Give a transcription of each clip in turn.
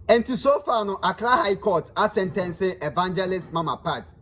Enti so far no Accra High Court asɛntɛnse Evangelist Mama Pat.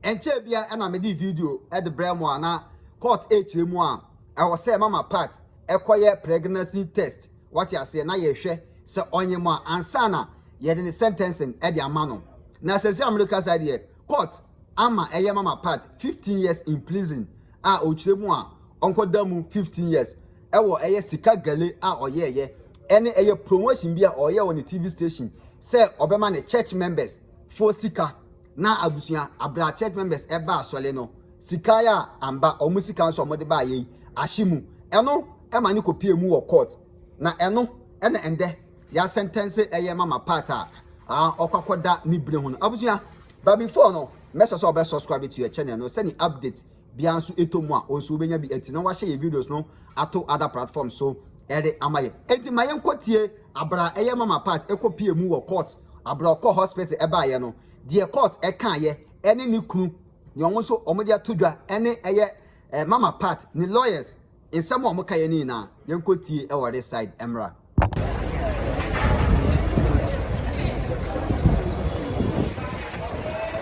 Ɛnkyɛɛ biara na mede video de brɛɛ mo a na court rekyerɛ mu a ɛwɔ sɛ Mama Pat kɔyɛ pregnancy test, wate aseɛ, na yɛhwɛ sɛ ɔnye mo a ansa na yɛde ne sentencing de ama no. Na seesei a merekasa yi deɛ, Court ama ɛyɛ Mama Pat fifteen years in prison a ɔkyerɛ mu a ɔnkɔ da mu fifteen years ɛwɔ ɛyɛ sika gale a ɔyɛɛ yɛ ɛne ɛyɛ promotion bi a ɔyɛ wɔ ne TV station sɛ ɔbɛma ne church members foɔ sika na abusua abra church members ɛba asɔle no sika yɛ a amba ɔmo sika nso ɔmo de ba ayɛ yi ahye mu ɛno ɛma ne kɔ pie mu wɔ court na ɛno ɛna ɛndɛ Y'asɛntɛnse ɛyɛ mama part a ah ɔkɔ akɔda ne bere ho no abusua but before no mɛsɔ sɛ ɔbɛ subscribe to yɛ channel no sɛnea update biara nso ɛtɔ mu a ɔnso wobɛnya bi ɛti na wahyɛ yɛ videos no ato other platforms so ɛde ama yɛ ɛti ma yɛnkɔ tie abra ɛyɛ mama part ɛkɔ pie mu wɔ court abra ɔkɔ hospital ɛbaayɛ no deɛ court ɛkaayɛ ɛne ne kunu ne ɔmo nso ɔmo de ato dwa ɛne ɛyɛ eh, mama part ne lawyers Nsɛm a ɔmo ka yɛ ne nyinaa yɛn kɔ tie ɛwɔ re side ɛmmra.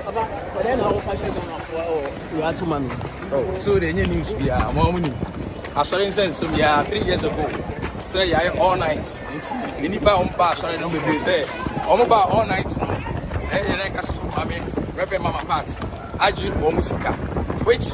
Aba ɔdɛ na ɔmo ka kyerɛ Ghana foɔ ɛwɔ wia to ma mi. Oh, so they need news be a more money. I saw in sense some yeah three years ago. Say yeah all night. Any bar on bar sorry no be say on bar all night. Eh, yeah, like us from mommy, Reverend Mama Pat. I drink one musica, which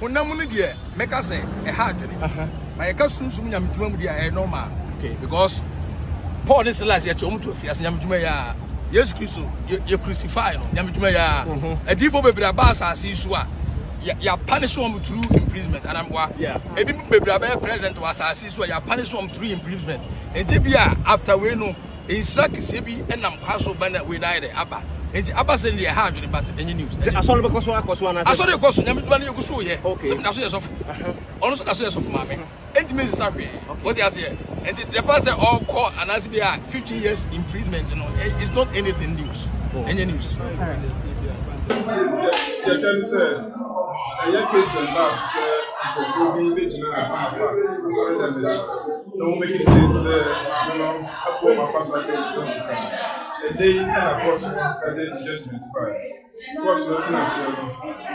Honam no deɛ mɛka sɛ ɛha adwene. Uh -huh. But yɛka sunsum nyamedwuma mu deɛ ɛyɛ normal. Okay. Because Paul ne Silas yɛte wɔn to afiase nyamedwuma yɛ a Yesu Kristo yɛ crucify no nyamedwuma yɛ a mhm. adiifo bebree aba asase yi so a yɛapanish wɔn through imprisonment anamboa ebi bebree abɛyɛ president wɔ asase so a yɛapanish wɔn through imprisonment nti bi a after wei no nhyira kɛseɛ bi nam kwan so ba na wei na ayɛ dɛ aba nti aba sɛ deɛ ɛha adwene but ɛnyɛ news. Sɛ asɔre bɛkɔ so akɔ so anaasɛ. Asɔre kɔ so nyame dwuma no yɛgu so yɛ sɛ meda so yɛ sɔfo ɔno nso da so yɛ sɔfo maame nti me nsesa hwee wote aseɛ nti the fact sɛ ɔkɔ anaasɛ bi a 15 years imprisonment no eh, it's not anything news ɛnyɛ news. yɛhwɛ ne sɛ ɛyɛ case ɛba sɛ nkurɔfoɔ bi bɛgyina afa asɔre dɛm akyi na wobegye din sɛ Maame no abom afa saa dwom sɛm so ka. Ɛnnɛ yi na kɔɔto no de ne judgement bae. Kɔɔto no tenaa aseɛ no,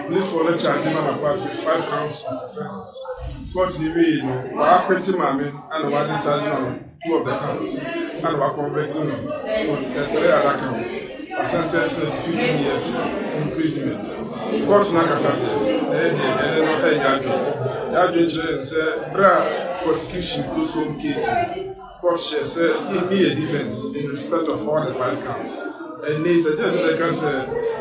polisfoɔ no charge Mama Pat with five counts of offences. Kɔɔto no wiei no, wɔakwete Maame a na wɔadischarge no no two of the counts, ɛna wɔaconvict no with the three other counts. I sentenced her to fifteen years imprisonment. Court no ankasa deɛ, ɛyɛ deɛ ɛne no ɛnyɛ adwene. Y'adwene kyerɛ yɛn sɛ berɛ a prosecution closed home case no, court hyɛɛ sɛ yɛnni yɛn defence in respect of all the five counts. Ɛnnɛ yi, sɛ judge no bɛka sɛ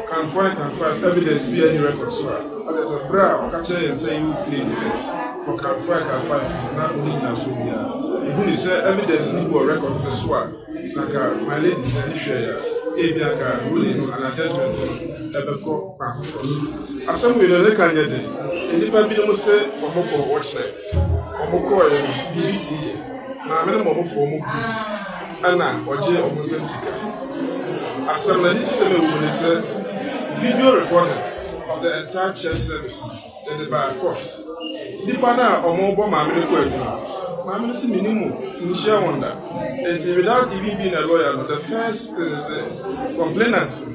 count four and count five evidence biara nni record so a, ɛkyerɛ sɛ berɛ a ɔka kyerɛ yɛn sɛ yɛwɔ plain defence for count four and count five no, na ɔnni gyinasoɔ biara. Yɛhu no sɛ evidence no bi wɔ record no so a, Sɛ anka Marlene de n'ani hwɛe a, ebia anka bullying no anaa judgement no bɛkɔ kwan foforo so. Asɛm wei no, ne ka nyɛ den. Nnipa binom se wɔkɔ watch night. Wɔkɔeɛ no, biribi sii yɛn. Maame no ma wɔfaa wɔn gulls ɛna ɔgyee wɔn nsam sika. Asɛm no, anigyesɛm a ɛwɔ mu ne sɛ, video recordings of the entire church service no, Yɛ de baa court nipa no a ɔmo bɔ maame no kwaadu no maame no se menim mo menhyia wɔn da nti without even being a lawyer no the first thing ne sɛ complainant no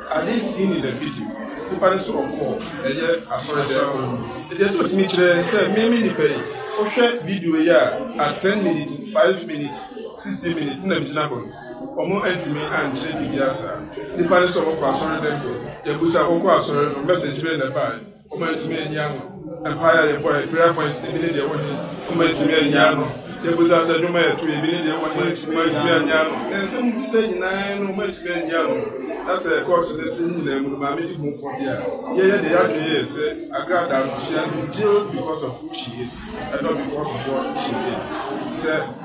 had he seen in the video nipa no se ɔkɔɔ ɛyɛ asɔre dɛm hɔ no nti ɛsɛ ɔtumi kyerɛ sɛ me me nipa yi wohwɛ video yi a at ten minutes five minutes sixty minutes na megyina hɔ no. Wɔantumi ankyerɛ biribiara saa. Nnipa no sɛ wɔkɔ asɔre dɛn? Yɛabisa, Wokɔ asɔre no, message bɛn na ɛbae? Wɔantumi anyi ano. Mpae a yɛbɔe, prayer points, ebi ne deɛ ɛwɔ he? Wɔantumi anyi ano. Yɛabisa sɛ, Nnwom a yɛtoe, ebi ne deɛ ɛwɔ he? Wɔantumi anyi ano. Nsɛm a wobisae nyinaa no, wɔantumi anyi ano. Na sɛ kɔɔso no ase no nyinaa mu no, Maame di ho fɔ deɛ a, yɛyɛ deɛ yɛadwene yɛɛ sɛ Agradaa no, she has been jailed because of who she is and not because of what she did. Sɛ.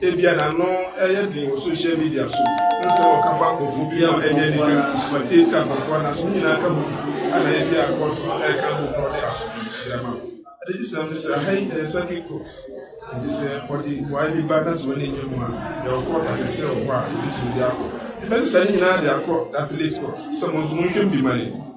Ebia na ano yɛ den wɔ sohyia midia so ne nsɛm a wɔka fa nkurɔfo bi ho a ɛnyɛ anika na wɔatie sɛ akwafoɔ a nanso ne nyinaa ka ho bi a na ebia court no reka ho na wɔde asodwe de ama no. Anigyesɛm ne sɛ, ha yi yɛ circuit court, enti sɛ wɔde mmuae bi ba na sɛ w'ani nnye ho a, yɛwɔ court akɛseɛ wɔ hɔ a yɛbɛtumi de akɔ. Yɛbɛsesa ne nyinaa de akɔ appellate court. So mo nso monhwɛ mu bi ma yɛn.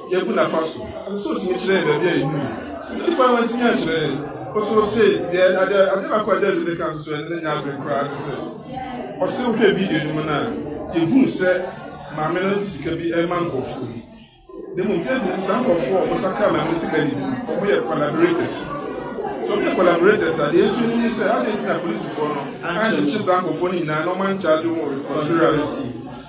yɛ Burkina Faso, ɔsɛ sɛ otumi kyerɛ yɛn baabi a yɛnnim no. Ɛnde kwan a wantumi ankyerɛ yɛn no, ɔsɛ ose yɛn ade a, ade baako a George de kaa nso a ɛne no nyɛ adwene koraa ne sɛ, ɔsɛ wohwɛ video no mu no a, yehu sɛ maame no de sika bi rema nkurɔfoɔ bi. Na mmom gyɛ nti, saa nkurɔfoɔ a wɔsakra maame no sika no bi no, wɔyɛ collaborators. Sɛ wɔyɛ collaborators a, deɛ yɛn nso yɛnim ne sɛ, adɛn nti na polisifoɔ no ankyekye saa nkurɔfoɔ no nyinaa na wɔancharge wɔn with conspiracy?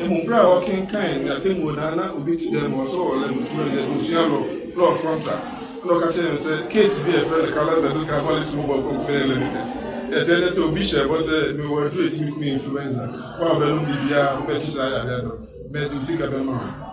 Mmom, bere a ɔrekenkan ne atemmuo no ara na obi te dan mu hɔ sɛ ɔwɔ laboratory anaa abusua law law of contract na ɔka kyerɛɛ no sɛ case bi a yɛfrɛ no Carlos versus Cavaliers Football Company Limited ɛteɛ ne sɛ obi hyɛɛ bɔ sɛ mewɔ aduru a ɛtumi ku influenza, wo a wobɛnom biribiara a wobɛkye saa yareɛ no, mede wo sika bɛma wo.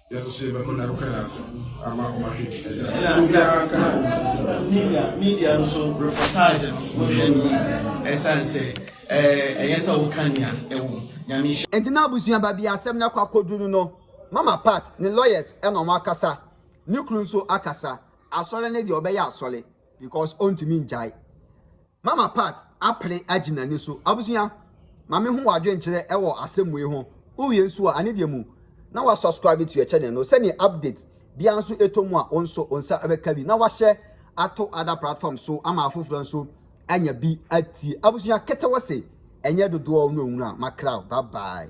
Yɛn nso yɛbɛma no akɔ yɛn ase ama wɔn ahwɛ bi. Ɛna obiara ka media media no so reportage no wohwɛ no yi ɛsan sɛ ɛyɛ sɛ woka nea ɛwɔ nyame nhyɛ. Enti na abusua baabi a asɛm no akɔ akɔduru no no, Mama Pat ne lawyers na wɔakasa, ne kunu nso akasa, asɔre no deɛ ɔbɛyɛ asɔre because ɔntumi ngyae. Mama Pat apere agye n'ani so. Abusua, ma me ho w'adwen kyerɛ ɛwɔ asɛm wei ho. Wo wie nso a, ane deɛ mu na wa subscribe to yɛ channel no, sɛdeɛ update biara nso ɛtɔ mu a wo nso wo nsa bɛka bi na wahyɛ ato other platform so ama afoforɔ nso anya bi atie. Abusua, ketewa se ɛnyɛ dodoɔ no ɔnwunu a, makra o, bye bye.